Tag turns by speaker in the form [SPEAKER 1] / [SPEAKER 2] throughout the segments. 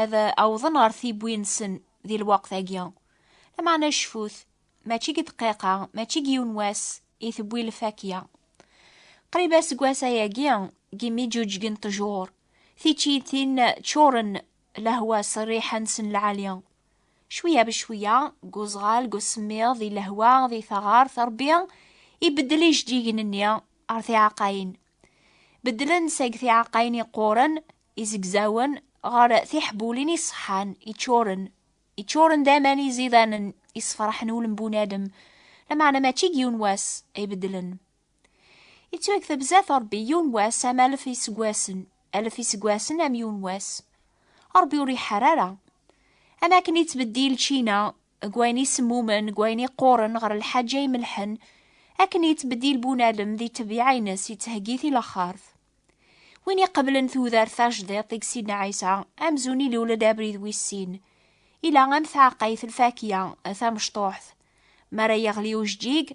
[SPEAKER 1] ad awḍen ɣer tiwwi-nsen di lweqt-agi. Lameɛna cfut, mačči deg dqiqa, mačči deg yiwen wass i tewwi lfakya. Qrib aseggas ayagi, deg imi ǧuǧgen ṭjur, tiččiyin ččuren lehwa s rriḥa-nsen lɛali. Cwiya becwiya, deg uzɣal, deg usemmiḍ, di lehwa, di taɣart, Rebbi ibeddel ijeǧǧigen-nni ɣer tiɛeqqayin. Beddlen seg tiɛeqqayin yeqquren, izegzawen ɣer tiḥbulin iṣeḥḥan iččuren iččuren d aman izidanen isefraḥen ul n bunadem lameɛna mačči deg yiwen wass ay beddlen yettwakteb zdat Rebbi yiwen wass am alef iseggasen alef iseggasen am yiwen wass Rebbi ur iḥar ara am akken yettbeddil čina deg wayen isemmumen deg wayen iqquren ɣer lḥaǧa imelḥen akken yettbeddil bunadem di ṭṭbiɛa-nnes yettheggi tilexxart Win iqeblen tudert tajdiḍt i Sidna Ɛisa, amzun ilul-d abrid wis sin. Ila am taɛeqqayt lfakya, tamecṭuḥt. Mi ara yeɣli ujeǧǧig,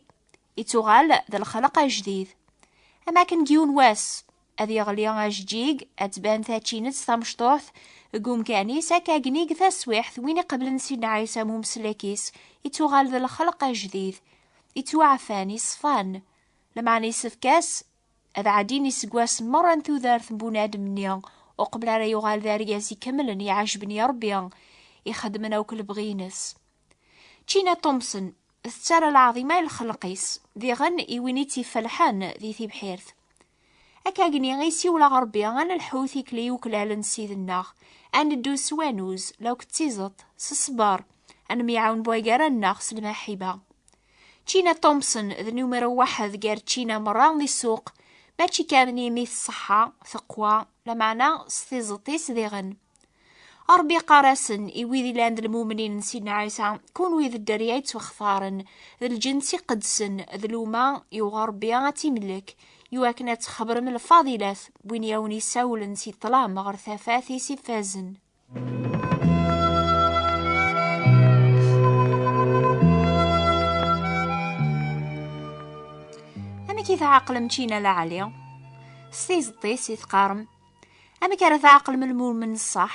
[SPEAKER 1] ittuɣal d lexleq ajdid. Am akken deg yiwen wass, ad yeɣli ajeǧǧig, ad tban tačinett tamecṭuḥt deg umkan-is, akka agnig taswiḥt win iqeblen Sidna Ɛisa am umeslek-is, ittuɣal d lexleq ajdid. Ittwaɛfan, iṣfan. Lmeɛna yessefk-as Ad ɛeddin iseggasen merra n tudert n bunadem-nni, uqbel ara yuɣal d argaz ikemlen iɛejben i Rebbi, ixeddmen akk lebɣi-ines. Tina Thompson tettarra lɛaḍima i lxelq-is, diɣen i win i tt-ifelḥen di tibḥirt. Akkagni i siwleɣ Rebbi, ad nelḥu tikli yuklal n Ssid-nneɣ, ad neddu s wanuz, lakk d tizeṭ, s ṣṣber, ad nemyaɛawen buygara-nneɣ s lmaḥiba. China Thompson d numero waḥed gar China merra di ssuq, mačči kan imi tṣeḥḥa, teqwa, lameɛna s tizeṭ-is diɣen. Ṛebbi iqqar-asen i wid ilan d lmumnin n Sidna Ɛisa, kunwi d dderya yettwaxtaren, d lǧens iqedsen, d luma yuɣ Ṛebbi ad timlek, iwakken ad txebrem lfadilat n win i awen-isawlen si ṭṭlam ɣer tafat-is ifazen. amek i tɛeqlem čina la ɛli s tizeṭṭis i teqqarem amek ara tɛeqlem lmumen ṣṣeḥ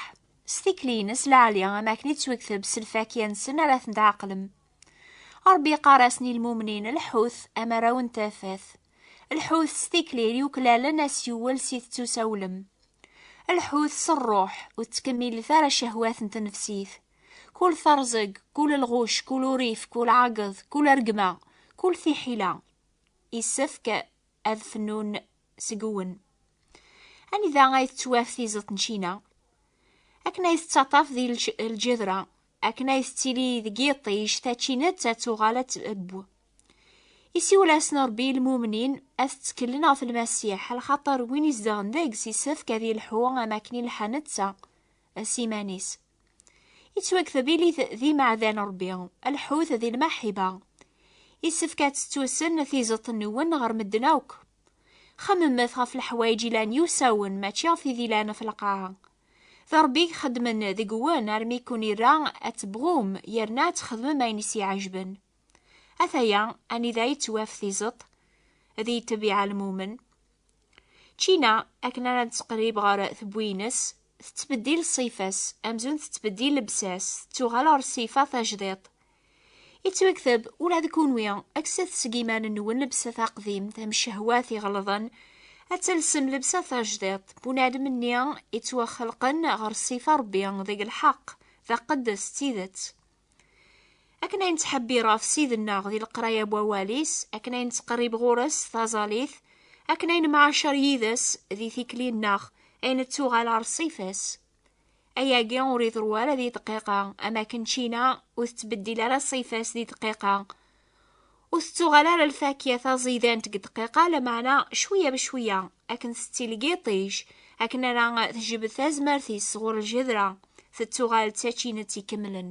[SPEAKER 1] s tikli-ines la ɛli am akken i ttwekteb s lfakya-nsen ara ten-tɛeqlem ṛebbi yeqqar-asen i lmumnin lḥut amaraw n tafat Lḥut s tikli yuklalen asyuwel si tettusawlem. Lḥut s rruḥ ur ttkemmilet ara cehwat n tnefsit. Kul terẓeg, kul lɣuc, kul urif, kul ɛageḍ, kul rregma, kul tiḥila. Yessefk ad fnun seg-wen. Anida ay tettwaf tizeḍt n Cina? Akken ay tettaṭṭaf di lǧedra, akken ay tettili deg yiṭij tačinett ad tuɣal ad tebb isiwel-asen rebbi i lmumnin ad tettkellen ɣef lmasiḥ lxaṭer win izedɣen deg-s isefk ad yelḥu am akken i lḥa netta s iman-is yettwakteb ilit d imeɛdan rebbi lḥut di lmaḥiba isefk ad tettusen tizeṭ nwen ɣer medden akk xemmemet ɣef leḥwayeǧ ilan yusawen mačči ɣef tid ilan ɣef lqaɛa D Ṛebbi i ixeddmen deg-wen armi i ken-irra ad tebɣum yerna ad txedmem ayen i s-iɛejben. Ataya anida i d-twaf tizeṭ, ad iyi-ttabiɛa lmumen. Ččina, akken ara nettqerrib ɣer tewwi-ines, tettbeddil ṣṣifa-s, amzun tettbeddil lebsa-s, tettuɣal ɣer ṣṣifa tajdiṭ, Yettwakteb ula d kunwi akset seg iman-nwen lebsa taqdimt am ccehwat iɣelḍen ad talsem lebsa tajdiṭ bunadem-nni yettwaxelqen ɣer ṣṣifa Rebbi deg lḥeqq d aqeddes d tidet. Akken ay nettḥebbir ɣef Ssid-nneɣ di leqraya n wawal-is, akken ay nettqerrib ɣur-s s taẓalit, akken ay nemɛacer yid-s di tikli-nneɣ ay nettuɣal ɣer ṣṣifa-s. ayagi ur iḍru ara di dqiqa am akken čina ur tettbeddil ara ṣṣifa-s di dqiqa ur tettuɣal ara lfakya taẓidant deg dqiqa lameɛna cwiya bcwiya akken tettili yiṭij akken ara tejbed tazmert-is sɣur ljedra tettuɣal d tačinett ikemlen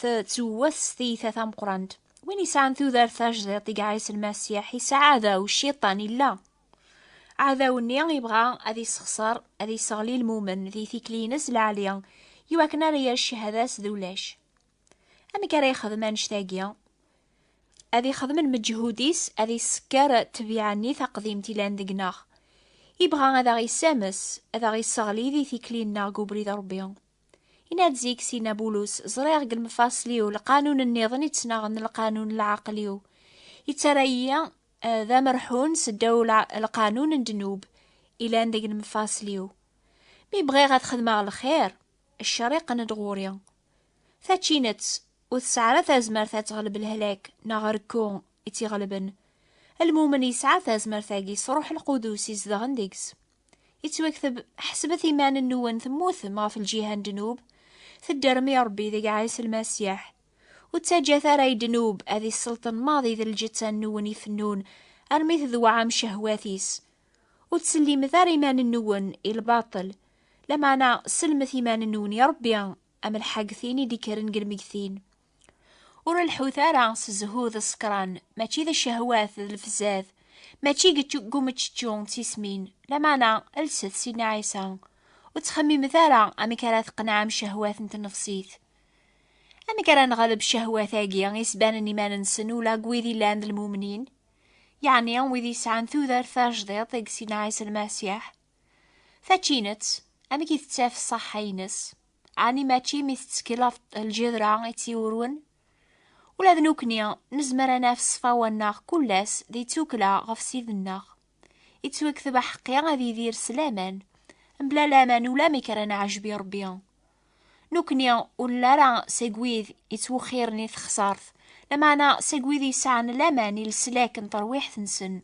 [SPEAKER 1] tettewwet s tiyita tameqrant win yesɛan tudert tajdiṭ i iɛissen Masiḥ yesɛa aɛdaw cciṭan illa aɛdaw-nni yebɣa ad yessexṣer ad yesseɣli lmumen di tikli-ines lɛali i wakken ara yerr cchada-s d ulac amek ara yexdem annect-agi ad ixdem lmeǧhud-is ad yessekker ttbiɛa-nni taqdimt ilan deg-neɣ yebɣa ad aɣ-yessames ad aɣ-yesseɣli di tikli-nneɣ deg ubrid Ṛebbi Yenna-d zik Sidna Bulus, ẓriɣ deg lemfaṣel-iw lqanun nniḍen i ttnaɣen lqanun n lɛaqel-iw. Yettarra-yi eh, d amerḥun s ddaw lqanun n ddnub ilan deg lemfaṣel-iw. Mi bɣiɣ ad xedmeɣ lxir, ccer iqqen-d ɣur-i. Tačinett, ur tesɛi ara tazmert ad teɣleb lehlak neɣ rekku i tt-iɣelben. Lmumen yesɛa tazmert-agi s Ṛuḥ Lqudus izedɣen deg-s. Ittwakteb ḥesbet iman-nwen temmutem ɣef lǧiha n ddnub, tedderm i Rebbi deg Ɛisa Lmasiḥ. Ur ttaǧǧat ara i ddnub ad isselṭen maḍi d lǧetta-nwen ifennun armi tedweɛɛem cehwat-is. Ur ttsellimet ara iman-nwen i lbaṭel, lameɛna sellmet iman-nwen i Rebbi am lḥagtin i d-ikkren deg lmegtin. Ur lḥut ara s zzhu d ṣekran, mačči d cehwat d lefzad, mačči deg umeččečču d tismin, lameɛna lset Sidna Ɛisa, ur ttxemmimet ara amek ara tqenɛem cehwat n tnefsit. Amek ara nɣelb cehwat-agi isbanen iman-nsen ula deg wid yellan d lmumnin, yeɛni wid yesɛan tudert tajdiṭ deg Sidna Ɛisa Lmasiḥ? Tačinett, amek i tettaf ṣṣaḥḥa-ines? Ɛni mačči mi tettkel ɣef lǧedra i tt-iwurwen? Ula d nekkni nezmer ad naf ṣṣfawa-nneɣ kullas d tukkla ɣef Ssid-nneɣ. Ittwekteb aḥeqqi ad yidir s laman, mebla laman ulamek ara neɛjeb i Rebbi. Nukni ur nelli ara seg wid yettwexxiren i texsart, lameɛna seg wid yesɛan laman i leslak n terwiḥt-nsen.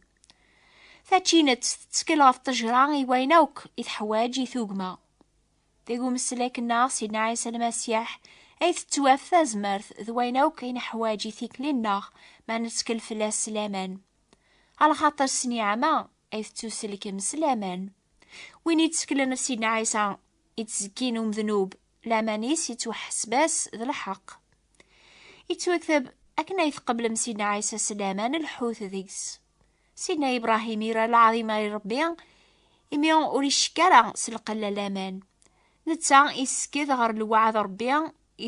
[SPEAKER 1] Tačinett tettkel ɣef ṭejra i wayen akk i teḥwaǧ i tugma. Deg umeslak-nneɣ Sidna Ɛisa Lmasiḥ ay tettwaf tazmert d wayen akk i neḥwaǧ i tikli-nneɣ ma nettkel fell-as s laman. Ɣer lxaṭer s niɛma ay tettuselkem s laman. Win yettseklen s Sidna Ɛisa, yettzekin umdnub, laman-is yettwaḥseb-as d lḥeq. Yettwakteb akken ay tqeblem Sidna Ɛisa s laman lḥut deg-s. Sidna Ibrahim ira lɛaḍima i Rebbi imi ur icekk ara s lqella laman. Netta yessked ɣer lewɛad Rebbi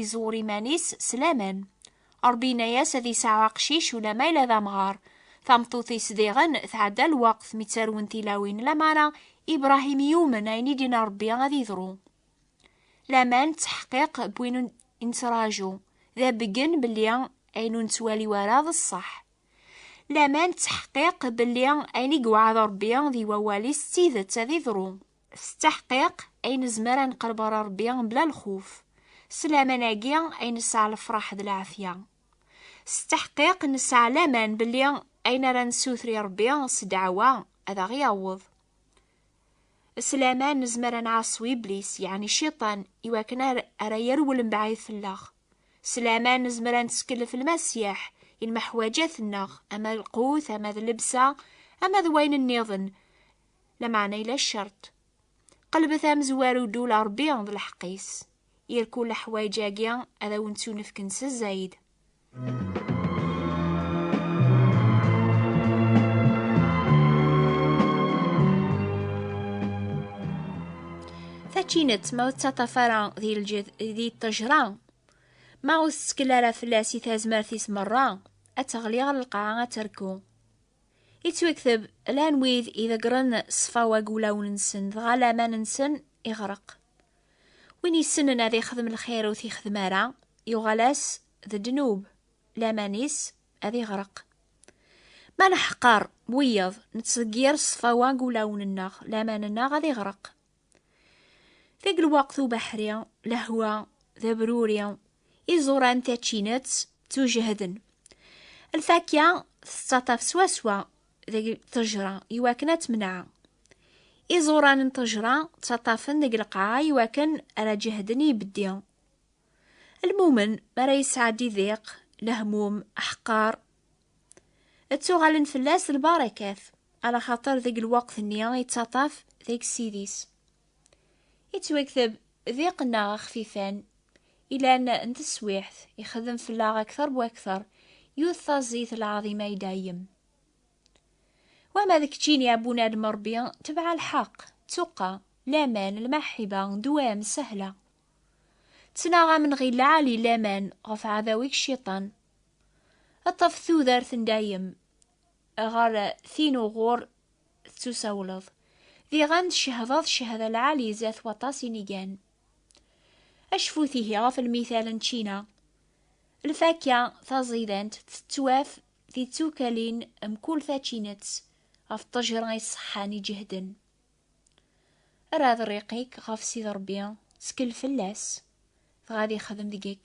[SPEAKER 1] Iẓur iman-is s laman. Ṛebbi yenna-yas ad yesɛu aqcic ulamma yella d amɣar. Tameṭṭut-is diɣen tɛedda lweqt mi ttarwen tilawin lamara Ibṛahim yumen ayen i d-yenna Ṛebbi ad yeḍru. Laman d taḥqiq n win i nettraǧu, d abeggen belli ayen ur nettwali ara d ṣṣeḥ. Laman d taḥqiq belli ayen i yewɛed Ṛebbi di wawal-is d tidet ad yeḍru. S taḥqiq, ay nezmer ad neqreb ɣer Rebbi mebla lxuf. S laman-agi ay nesɛa lefraḥ d lɛafya. S taḥqiq, nesɛa laman belli ayen ara nessuter i Rebbi s ddeɛwa ad aɣ-yaweḍ. S laman nezmer ad nɛaṣu Iblis, yeɛni Ciṭan, i wakken ara yerwel mebɛid fell-aɣ. S laman nezmer ad nettkellef Lmasiḥ i lmeḥwaǧat-nneɣ, ama d lqut, ama d llebsa, ama d wayen nniḍen, lameɛna yella ccerṭ. Qelbet amezwaru ddul Ṛebbi d lḥeqq-is. Irku leḥwayeǧ-agi ad awen-ttunefken s zzayed. Tačinett ma ur tettaṭaf ara di lǧed di ṭṭejra ma ur tettkel ara fell-as i tazmert-is merra ad teɣli ɣer lqaɛa ad terku. Yettwekteb lan wid iḍeggren ṣṣfa wag ulawen-nsen, dɣa laman-nsen iɣreq. Win yessnen ad ixdem lxir ur t-ixdem ara, yuɣal-as d ddnub, laman-is ad iɣreq. Ma neḥqer wiyeḍ, nettḍeggir ṣṣfa wag ulawen-nneɣ, laman-nneɣ ad iɣreq. Deg lweqt ubeḥri, lehwa d abruri, iẓuran tačinett ttujehden. Lfakya tettaṭaf swaswa deg ṭejra iwakken ad temneɛ. Iẓuran n ṭejra ttaṭafen deg lqaɛa iwakken ara ǧehden ibeddi. Lmumen mi ara yesɛeddi diq, lehmum, aḥeqqar, Ttuɣalen fell-as lbarakat, ala xaṭer deg lweqt-nni yettaṭaf deg sidis. Yettwakteb d iqenna axfifan, ilan n teswiḥt, ixedem fell-aɣ akter bu akter, yut taẓit lɛaḍima i dayem. Wama d keččini a bunadem Ṛebbi, tebɛa lḥeqq, ttuqqa, laman, lmaḥiba, dwam, sahla. Ttnaɣ amenɣi lɛali laman ɣef ɛadaw-ik cciṭan, Ad taf tudert n dayem ɣer tin uɣur tettusawleḍ. Diɣen tcehdeḍ ccehda lɛali zdat waṭas inigan. Acfut ihi ɣef lmital n čina. Lfakka taẓidant tettwaf di tsukalin mkul tačinett ɣef ṭṭejra iṣeḥḥan iǧehden. Rad rriq-ik ɣef Sidi Rebbi, ttkel fell-as, dɣa ad ixdem deg-k